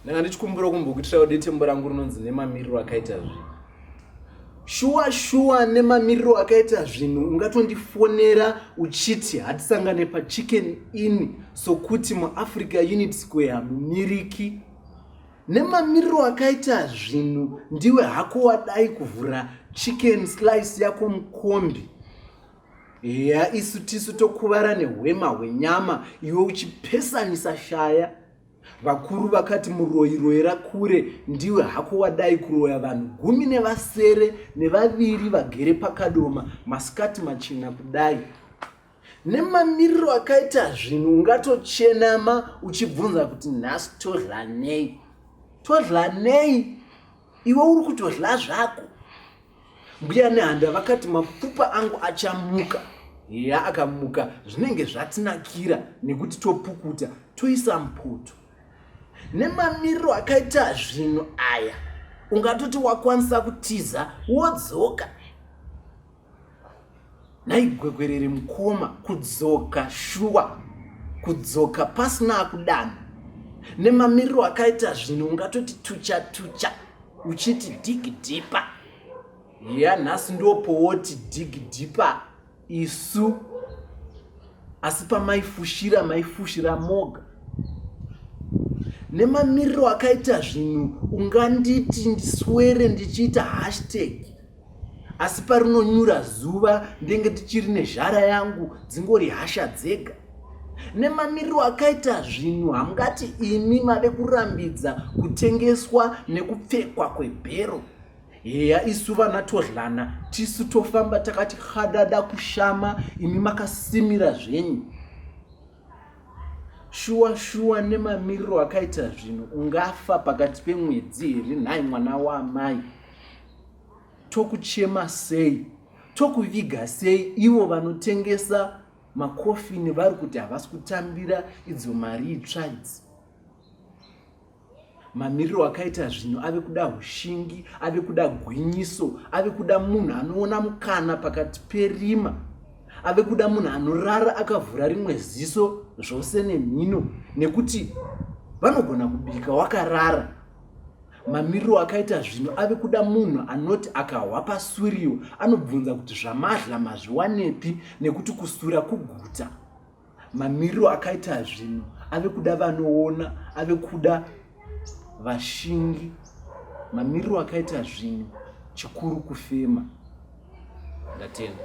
ndanga ndichikumbira kumbokuitirawo detembo rangu rinonzi nemamiriro akaita zvinhu shuwa shuwa nemamiriro akaita zvinhu ungatondifonera uchiti hatisangane pachicken in sokuti muafrica unit square hamumiriki nemamiriro akaita zvinhu ndiwe hako wadai kuvhura chicken slice yako mukombi heya isu tisu tokuvara nehwema hwenyama iwe uchipesanisa shaya vakuru vakati muroyi royera kure ndiwe hako wadai kuroya vanhu gumi nevasere nevaviri vagere pakadoma masikati machena kudai nemamiriro akaita zvinhu ungatochenama uchibvunza kuti nhasi todlanei todlanei iwe uri kutodla zvako Mbuya Nehanda vakati mapfupa angu achamuka. Heya akamuka zvinenge zvatinakira nekuti topukuta toisa mupoto. Nemamiriro akaita zvinhu aya ungatoti wakwanisa kutiza wodzoka. Nhai gwegwerere mukoma kudzoka shuwa kudzoka pasina akudana nemamiriro akaita zvinhu ungatoti tucha tucha uchiti digidhipa ya nhasi ndopowoti digidhipa isu asi pamaifushira maifushira moga nemamiriro akaita zvinhu unganditi ndiswere ndichiita hashtag asi parinonyura zuva ndenge tichiri nezhara yangu dzingori hasha dzega nemamiriro akaita zvinhu hamungati imi mave kurambidza kutengeswa nekupfekwa kwebhero heya isu vana todlana tisu tofamba takati hadada kushama imi makasimira zvenyu shuwa shuwa nemamiriro akaita zvinhu ungafa pakati pemwedzi here nhai mwana waamai tokuchema sei tokuviga sei ivo vanotengesa makofini vari kuti havasi kutambira idzo mari itsva idzi mamiriro akaita zvinhu ave kuda ushingi ave kuda gwinyiso ave kuda munhu anoona mukana pakati perima ave kuda munhu anorara akavhura rimwe ziso zvose nemhino nekuti vanogona kubika wakarara mamiriro akaita zvinhu ave kuda munhu anoti akahwa pasuriwo anobvunza kuti zvamadla mazviwanepi nekuti kusura kuguta mamiriro akaita zvinhu ave kuda vanoona ave kuda vashingi mamiriro akaita zvinhu chikuru kufema ndatenda